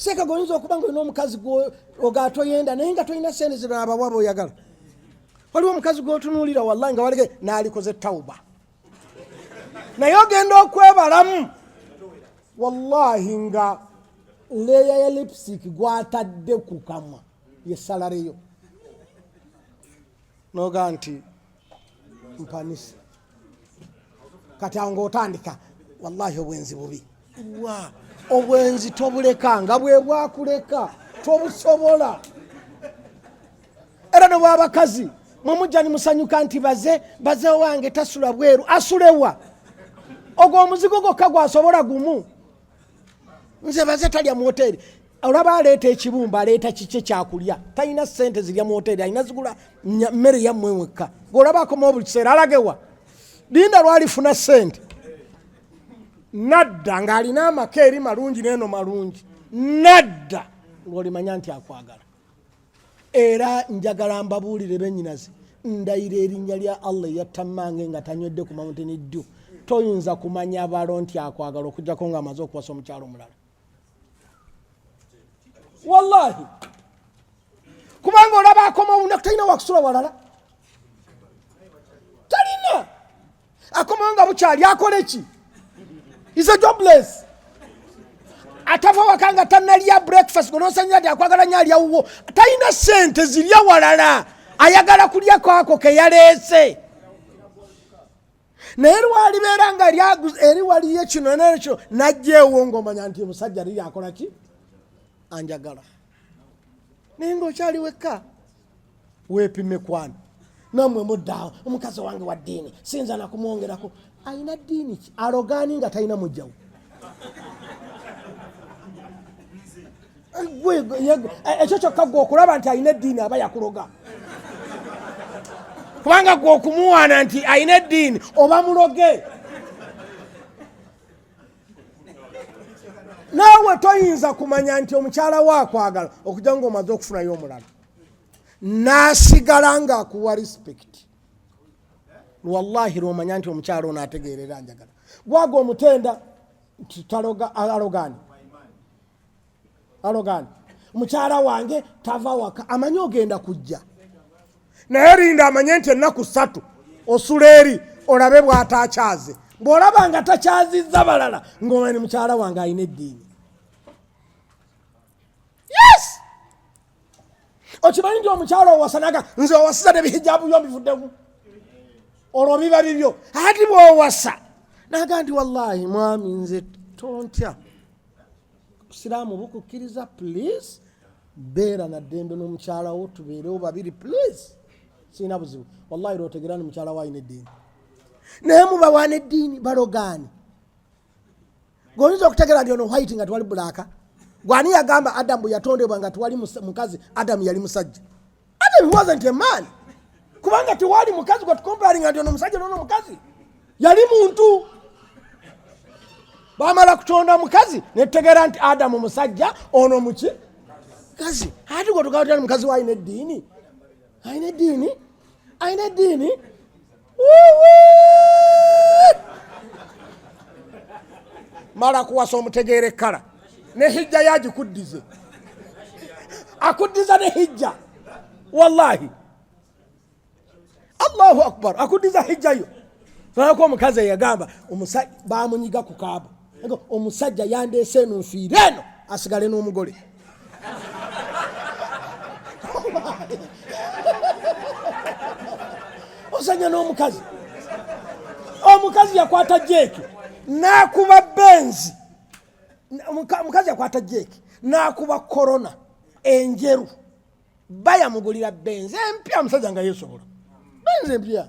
Sekaga oyinza okuba nga olina omukazi ogatoyenda naye nga tolina sente zebabawaba oyagala waliwo omukazi gwotunuulira wallahi nga walege naalikoze tauba naye ogenda okwebalamu wallahi nga leya ya lipsik gwatadde kukamwa yesalareyo noga nti mpanisa kati awo ngaotandika wallahi obwenzi bubi wa obwenzi tobuleka nga bwebwakuleka tobusobola era nobwabakazi mwemujja nimusanyuka nti baze baze wange tasula bweru asulewa ogwo omuzigo gwokka gwasobola gumu nze baze talya mu hoteri olaba aleeta ekibumba aleeta kikye kyakulya talina sente zirya mu hoteeri alina zigula mmere yammwe wekka ngaolaba akomawo buli kiseera alagewa linda lwalifuna sente nadda ng'alina amaka eri malungi neeno malungi nadda ng'olimanya nti akwagala era njagala mbabuulire benyinaze ndayira erinnya lya allah eyattammange nga tanywedde ku mawuntini ddu toyinza kumanya balo nti akwagala okujjako ng'amaze okuwasa omukyalo omulala wallahi kubanga olaba akoma olunaku talina wakusula walala talina akomawo nga bukyali akole ki is a jobless atava waka nga tanalya breakfast gonosanyira ti akwagala nyo alyawuwo talina sente zirya walala ayagala kulya kwako keyaleese naye lwalibeera nga eri waliyo kino nekyo najjeewo ngaomanya nti omusajja liri akola ki anjagala naye ngaokyali wekka weepime kwana namwe muddaawo omukazi wange wa ddiini sinza nakumwongerako alina ddiini ki alogaani nga talina mujjawo ekyo kyokka gwe okulaba nti alina eddiini aba yakuloga kubanga gwe okumuwaana nti alina eddiini oba muloge naawe toyinza kumanya nti omukyala wo akwagala okujja nga omaze okufunayo omulala nasigala nga akuwa respect wallahi lwomanya nti omukyala ono ategeerera njagala gwaga omutenda nti taloga alogani alogani mukyala wange tava waka amanyi ogenda kujja naye linda amanye nti ennaku satu osula eri olabe bwatakyaze bwolaba nga takyazizza balala ngaomani mukyala wange alina eddiini yes okimanyi nti omukyalo owasanaga nze owasiza nebihijabu byo mbivuddemu olwo biba bibyo ati bwowasa naga nti wallahi mwami nze tontya siraamu bukukkiriza please beera na ddembe n'omukyala wo tubeerewo babiri please sirina buzibu wallahi lwotegera ni mukyala wo alina eddiini naye mubawana eddiini balogaani gwoyinza okutegera ndi ono white nga twali bulaaka gwani yagamba adamu yatondebwa nga twali mukazi adamu yali musajja adam wasn't a man kubanga tewali mukazi gwetukomparinga ndi ono musajja nono mukazi yali muntu bamala kutonda mukazi netutegera nti adamu musajja ono muki kazi ati gwetugaa mukazi wa alina eddiini alina eddiini alina eddiini mala kuwasa omutegeera ekkala ne hijja yagikuddize akuddiza ne hijja wallahi allahu akbar akuddiza hijja yo olabako omukazi eyagamba bamunyiga ku kaaba omusajja yandeese eno nfiire eno asigale n'omugole osanya n'omukazi omukazi yakwata jeeki nakuba benzi omukazi yakwata jeeki nakuba korona enjeru bayamugulira benzi empya omusajja nga yesobola benzi empya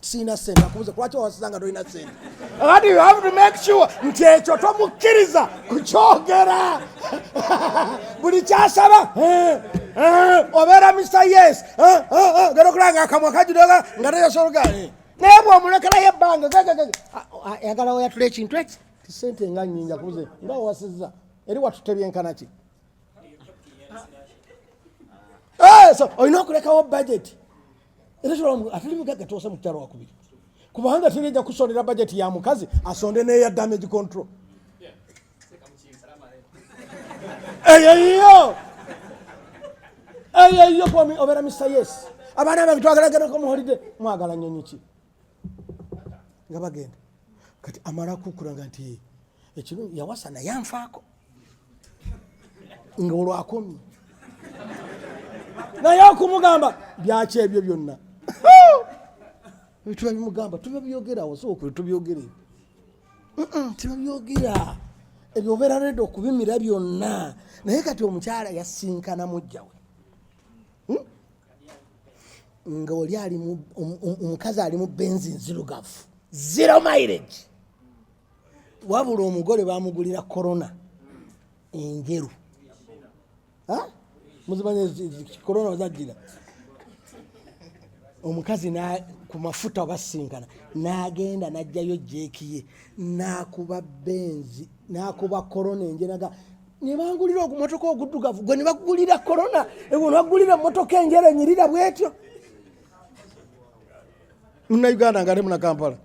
sirina sente akubuze kulwaki owasiza nga tolina sente ati you have to make sure nti ekyo tomukkiriza kukyogera buli kyasaba eh, eh, obeera misa yes eh, gera okulanga akamwa kajudoga nga teyasologa naye bwomulekerayo ebbanga ayagala ah, ah, oyatula ekintu eki tisente nga nyingi akubuze nga owasiza eri watutebyenkanaki olina okulekawo budget era kiramu atali mugagga tuwasa mukyalo wakubiri kubanga tuneja kusondera bajeti ya mukazi asonde neya damage control eyoiyo eyoiyo kwami obera mr yes abaana bange twagalaganako muholide mwagala nyonyi ki nga bagenda kati amala kukulaga nti ekiro yawasa naye anfaako nga olwakomye naye okumugamba byaki ebyo byonna tuba bimugamba tuba byogerawo sookuli tubyogere tuba byogera ebyo obeera redi okubimira byonna naye kati omukyala yasinkana mujjawe nga oli ali omukazi ali mu benzi nzirugavu zero mileage wabula omugole bamugulira corona enjeru muzimanya corona ozajjira omukazi ku mafuta obasinkana nagenda najjayo jekiye nakuba benzi nakuba corona enjenaga nebangulira ogumotoka oguddugavu gwe nebagulira korona ewo nebagulira motoka enjera enyirira bwetyo munauganda nga ali munakampala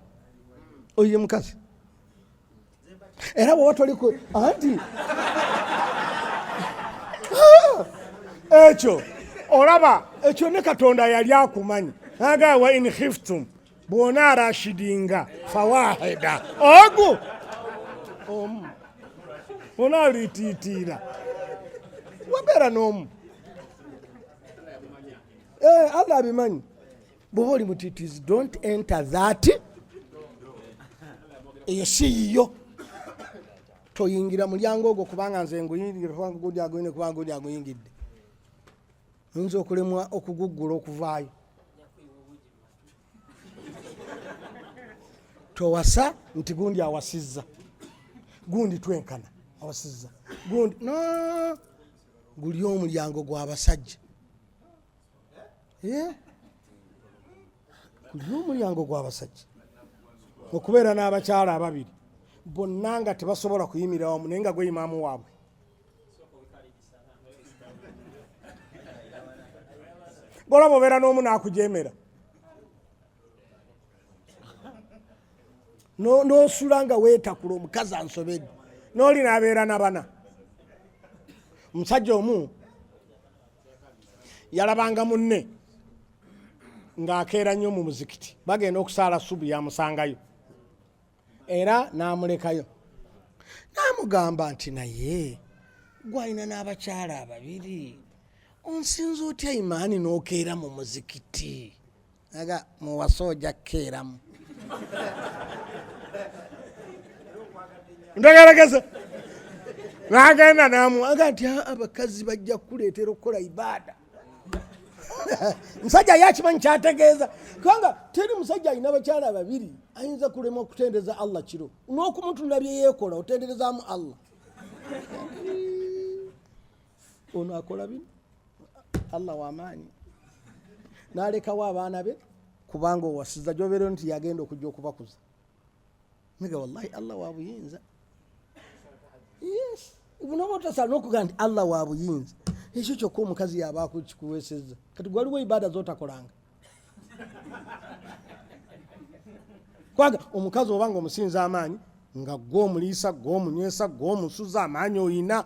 oyo ye mukazi era woba toliku anti ekyo olaba ekyo ne katonda yali akumanyi agawa in hiftum bwona arashidinga fawaheda ogu omu bwona alitiitiira wabeera n'omu eh, allah abimanyi bwoba oli mutitizi don't enter that eyo si yiyo toyingira mulyango ogwo kubanga nze nguyingira kubanga guli aguyine kubanga guli aguyingidde oyinza okulemwa okuguggula okuvaayo towasa nti gundi awasizza gundi twenkana awasizza gundi no guli omulyango gwabasajja eh? guli omulyango gwabasajja okubeera n'abakyala ababiri bonna nga tebasobola kuyimira wamu naye nga gweyimaamu waabwe golaba obeera n'omu n'akujeemera n'osula nga weetakula omukazi ansobedde n'oli n'abeera na bana omusajja omu yalabanga munne ng'akeera nnyo mu muzikiti bagenda okusaala subu yamusangayo era n'amulekayo n'amugamba nti naye gwalina n'abakyala ababiri onsinza otya imaani n'okeera mu muzikiti aga muwasa oja kukeeramu ntagalageza n'agenda n'amuwaga nti abakazi bajja kukuleetera okukola ibaada musajja ye akimanyi kyategeeza kubanga teri musajja alina bakyala babiri ayinza kulema okutendereza allah kiro n'okumutunula byeyekola otenderezaamu allah ono akola bino allah wamaanyi nalekawo abaana be kubanga owasiza gyobeereo nti yagenda okujja okubakuza mega wallahi allah wabuyinza yes ubunoba otasala nokugaa nti allah wabuyinza ekyo kyokka omukazi yaba kikuweseza kati gwaliwo ibada zotakolanga kwaga omukazi obanga omusinza amaanyi nga gwe omuliisa gwe omunywesa gwe omusuza amaanyi oyina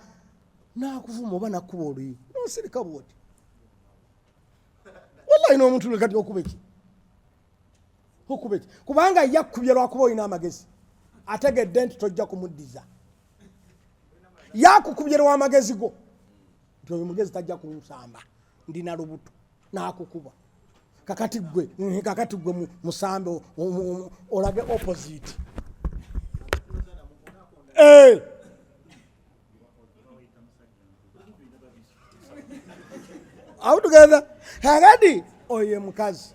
nakuvuma oba nakuba oluyi nosirika bwoti wallahi nomuntu lwe kati okubeki hukubeki kubanga yakkubye lwakuba olina amagezi ategedde nti tojja kumuddiza yakukubye lwamagezi go nti oyo mugezi tajja kunsamba ndina lubuto nakukuba kakati gwe mm, kakati gwe musambe olage opposite eh. awutugeza kakati oyo mukazi